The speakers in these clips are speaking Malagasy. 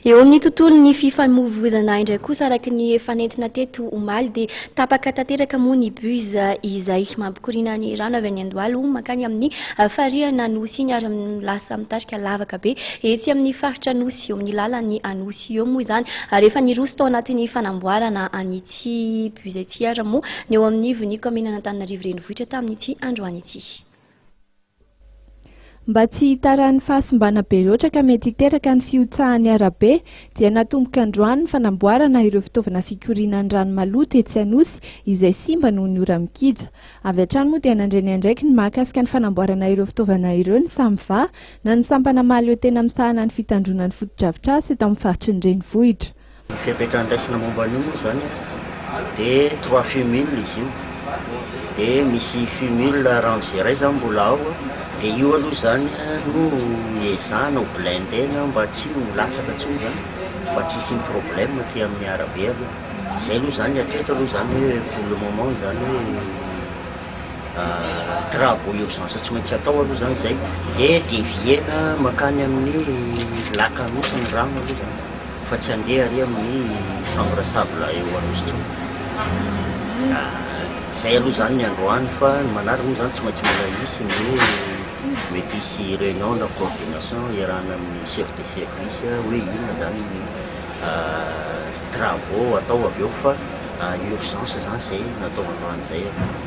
Eo amin'ny tontolon'ny fifamoivoizana indray kosa araka ny efa nentina teto omaly dia tapaka tanteraka moa ny bus izay mampikoriana ny rano avy any Andohalo mankany amin'ny ah, farihana Nosy iny ary lasa mitarika lavaka be etsy amin'ny faritra Nosy eo amin'ny lalan'ny Anosy eo moa izany ary efa niroso tao anatin'ny fanamboarana an'ity bus ity ary moa ny eo amin'ny vonia kaominina Antananarivo Renivohitra tamin'ity androany ity. Mba tsy hitaran'ny fahasimbana be loatra ka mety hiteraka ny fihotsahan'ny arabe dia natomboka androany ny fanamboarana ireo fitaovana fikoriana ny rano maloto etsy Anosy izay simba noho ny ora mikija. Avy hatrany moa dia nandre ny andraikiny mahakasika ny fanamboarana ireo fitaovana ireo ny Samva na ny sampana mahaleotena misahana ny fitandroana ny fotodrafitrasa eto amin'ny faritry ny renivohitra. Ny fepetra andraisana momba an'io moa izany dia trois fumul izy io, dia misy fumul range iray izany mbola ao, dia io aloha izany no ezahina ho blindena mba tsy ho latsaka intsony izany, mba tsy hisian'ny problème aty amin'ny arabe aloha. Izay aloha izany ny hatreto aloha izany hoe pour le moment izany hoe travaux urgence tsy maintsy atao aloha izany izay, dia devier-na mankany amin'ny lac Anosy ny rano aloha izany. Fa tsy handeha ary amin'ny chambre sable eo Anosy intsony. Ka izay aloha izany ny androany fa ny manaraka moa izany tsy maintsy mbola hisy ny hoe mety hisy réunion na coordination iarahana amin'ny chef de service hoe inona izany ny travaux atao avy eo fa urgence izany izay natao androany izay aloha.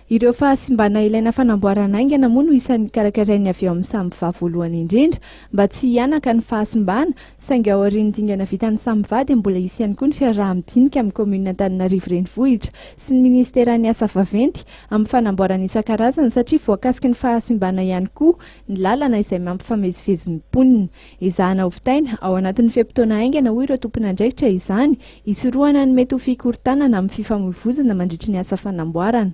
Ireo fahasimbana ilaina fanamboarana haingana moa no isan'ny karakarainy avy eo amin'ny samy vavy voalohany indrindra mba tsy hihanaka ny fahasimbana, saingy aorian'ny dingana vitan'ny samy vavy dia mbola hisy ihany koa ny fiaraha-midinika amin'ny kaominina Antananarivo Renivohitra sy ny minisiteran'ny asa vaventy amin'ny fanamboarana isan-karazany satria voakasiky ny fahasimbana ihany koa ny lalana izay mampifamezivezy ny mponina. Ezahana hovitaina ao anatin'ny fe-potoana haingana, hoy ireo tompon'andraikitra, izany hisorohana ny mety ho fikorontanana amin'ny fifamoivoizana mandritry ny asa fanamboarana.